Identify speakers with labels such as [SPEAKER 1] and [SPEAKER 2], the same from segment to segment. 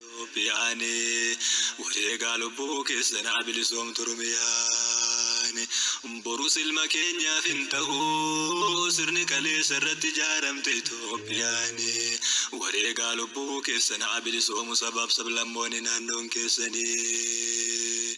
[SPEAKER 1] Ethiopiani wareegaa lubbuu keessan haa bilisoomtu Oromiyaan borus ilma keenyaaf hin ta'u sirni kaleessa irratti ijaaramte Ethiopiani wareegaa lubbuu keessan haa bilisoomu sabaaf sablammoonni naannoon keessanii.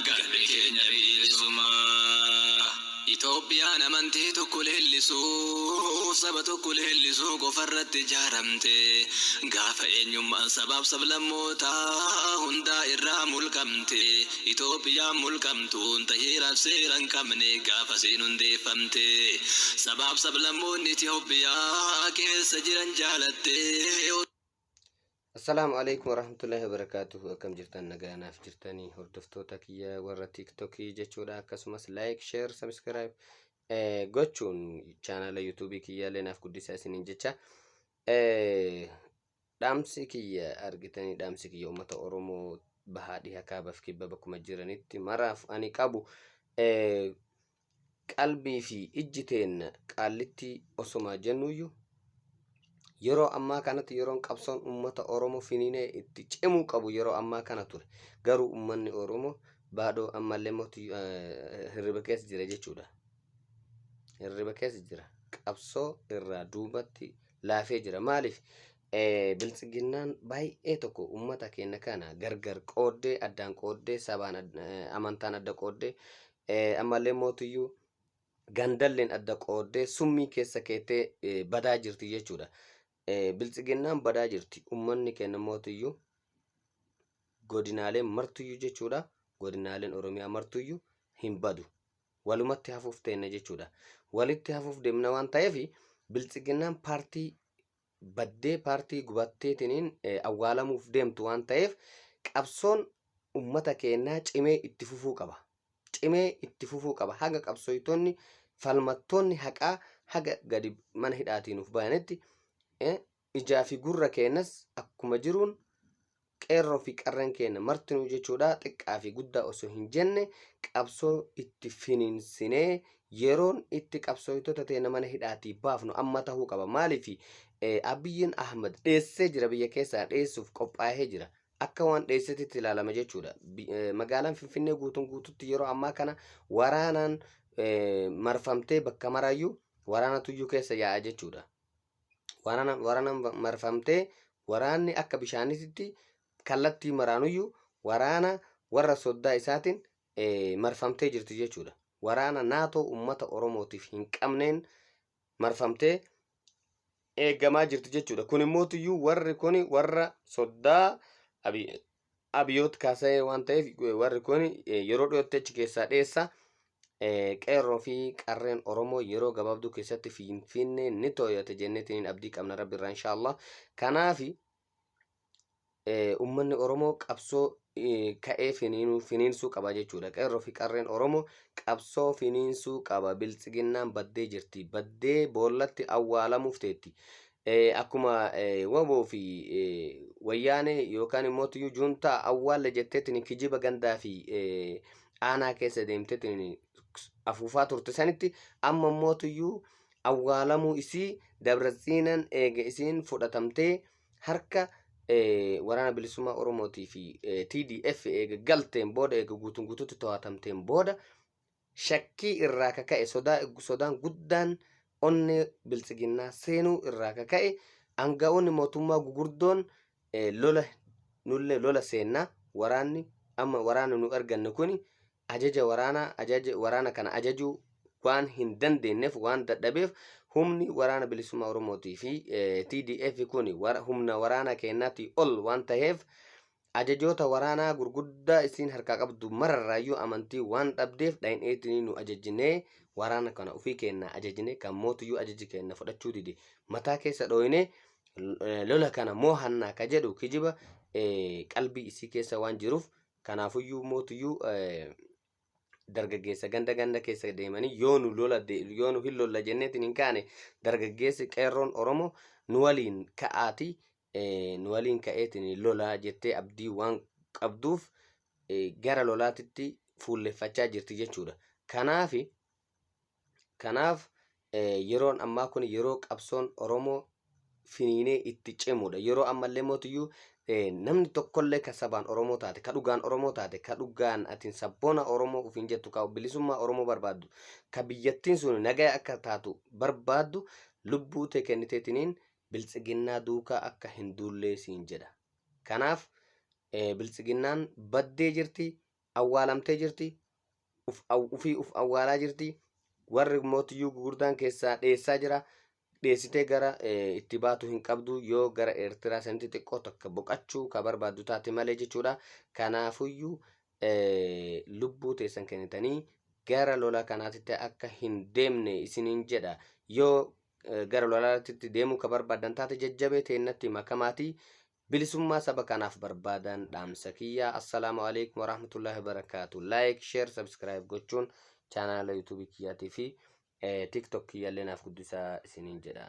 [SPEAKER 1] Gabri keenya biilisummaa. Itoophiyaan amantii tokko leellisuuf, saba tokko leellisuu qofarratti ijaaramte. Gaafa eenyummaan sabaaf sablammootaa hundaa irraa mulqamte. Itoophiyaan mulqamtuun ta heeraaf seera hin qabne gaafasiin hundeeffamte. Sabaaf sablammoonni Itoophiyaa keessa jiran jaalattee.
[SPEAKER 2] Assalaamu alaikum warahmatullahi wabarakatuhu akkam jirtan nagaa naaf jirtanii hordoftoota kiyya warra tiktokii jechuudha akkasumas like share subscribe eh, gochuun chaanala yuutuubii kiyyaallee naaf guddisaa isiniin jecha eh, dhaamsi kiyya argitanii dhaamsi kiyya uummata oromoo bahaa dhiha kaabaaf kibba bakkuma jiranitti maraaf ani qabu eh, Qalbii fi ijji teenna Qaallittii osomaa jennuuyyu, yeroo ammaa kanatti yeroon qabsoon ummata Oromoo finiinee itti cimuu qabu yeroo ammaa kana ture. Garuu ummanni Oromoo baadoo ammallee immoo hirriba keessa jira jechuudha. Hirriba keessa jira. Qabsoo irraa duubatti laafee jira. Maaliif? Biltsiginnaan baay'ee tokko ummata keenya kana gargar qooddee, addaan qooddee, sabaan amantaan adda qooddee Ammallee immoo tuyyuu gandalleen adda qooddee summii keessa keettee badaa jirti jechuudha. Biltsiginnaan badaa jirti. Uummanni keenya immoo tuyyuu godinaaleen martuyyuu jechuudha. Godinaaleen Oromiyaa martuyyuu hin badu. Walumatti hafuuf teenna jechuudha. Walitti hafuuf deemna waan ta'eef biltsiginnaan paartii baddee paartii gubatteetiniin awwaalamuuf deemtu waan ta'eef qabsoon ummata keennaa cimee itti fufuu qaba. Cimee itti fufuu qaba. Haga qabsooytoonni falmattoonni haqaa haga gadi mana hidhaatii nuuf bayanitti ijaa fi gurra keennas akkuma jiruun Qeerroo fi Qarreen keenya martinuu jechuudha xiqqaa fi guddaa osoo hin jenne qabsoo itti finiinsinee yeroon itti qabsooytota teena mana hidhaatii baafnu amma tahuu qaba. Maaliif Abiyyiin Ahmad dheessee jira biyya keessaa dheessuuf qophaahee jira. Akka waan dheessetitti ilaalama jechuudha. Magaalaan Finfinnee guutuun guututti yeroo ammaa kana waraanaan marfamtee bakka maraayyuu waraana tuyyuu keessa yaa'a jechuudha. waraana waraana marfamtee waraanni akka bishaanitti kallattii maraanuyyu waraana warra soddaa isaatiin eh, marfamtee jirti jechuudha. Waraana naatoo ummata Oromootiif hin qabneen marfamtee eegamaa jirti jechuudha. Kun immoo tuyyuu warri kun warra soddaa Abiy Abiyoot Kaasayee waan ta'eef warri kun yeroo dhiyootti achi keessaa dheessa. Qeerroo fi qarreen Oromoo yeroo gabaabduu keessatti Finfinnee ni tooyata jenneetiin abdii qabna rabbi irraa inshaallah. Kanaaf uummanni Oromoo qabsoo ka'ee finiinsuu qaba jechuudha. Qeerroo fi qarreen Oromoo qabsoo finiinsuu qaba. Biltsiginnaan baddee jirti. Baddee boollatti awwaalamuuf teetti. Eh, akkuma eh, waboo fi eh, wayyaanee yookaan immoo tuyyuu juuntaa awwaalle jetteetiin kijiba gandaa fi eh, aanaa keessa deemteetiin afuufaa turte sanitti amma immoo tuyyuu awwaalamuu isii dabratsiinan eega isiin fudhatamtee harka eh, waraana bilisummaa Oromootii fi eh, TDF eega galteen booda eega guutuun guutuutti to'atamteen booda Shakkii irraa ka ka'e sodaa eggu sodaan guddaan onnee biltsiginnaa seenuu irraa ka ka'e aanga'oonni mootummaa gugurdoon lola nullee lola seenna waraanni amma waraana nu erganne kuni ajaja waraanaa ajaja waraana kana ajajuu waan hin dandeenyeef waan dadhabeef humni waraana bilisummaa Oromootii fi TDF kuni humna waraanaa keenyaatii ol waan taheef Ajajoota waraanaa gurguddaa isiin harkaa qabdu mararraayyuu amantii waan dhabdeef dhayneetinii nu ajajinee waraana kana ufii keennaa ajajine kan mootuyyuu ajaja keenna fudhachuu dide mataa keessa dhooyne lola kana moohannaa ka jedhu kijiba qalbii isii keessa waan jiruuf kanaafuyyuu mootuyyuu dargaggeessa ganda ganda keessa deemanii yoo nu lola yoo nu hin lolla jenneetiin hin kaane dargaggeessi qeerroon oromoo nu waliin ka'aatii nu waliin ka'eetiin lolaa jettee abdii waan qabduuf gara lolaatitti fuulleffachaa jirti jechuudha. Kanaaf kanaaf yeroon ammaa kun yeroo qabsoon Oromoo finiinee itti cimudha. Yeroo ammallee mootiyyuu namni tokkollee ka sabaan Oromoo taate, ka dhugaan Oromoo taate, ka dhugaan atiin sabboona Oromoo ofiin jettu, ka bilisummaa Oromoo barbaaddu, ka biyyattiin sun nagaya akka taatu barbaaddu lubbuu tee kenniteetiniin Biltsiginnaa duukaa akka hin duullee siin jedha. Kanaaf Biltsiginnaan baddee jirti, awwaalamtee jirti, ufii uf awwaalaa jirti, warri mootiyyuu gugurdaan keessaa dheessaa jira. Dheessitee gara itti baatu hin qabdu yoo gara Eertiraa sanitti xiqqoo takka boqachuu ka barbaaddu taate malee jechuudha. Kanaafuyyuu lubbuu teessan kennitanii gara lola kanaatitti akka hin deemne isiniin jedha. Yoo gara lolaatti deemuu ka barbaadan taate jajjabee teennatti makamaatii bilisummaa saba kanaaf barbaadan dhaamsa kiyyaa assalaamu alaikum warahmatullahi wabarakaatu like share subscribe gochuun chaanaala yuutuubii kiyyaatii fi tiktok kiyyaallee naaf guddisaa isiniin jedha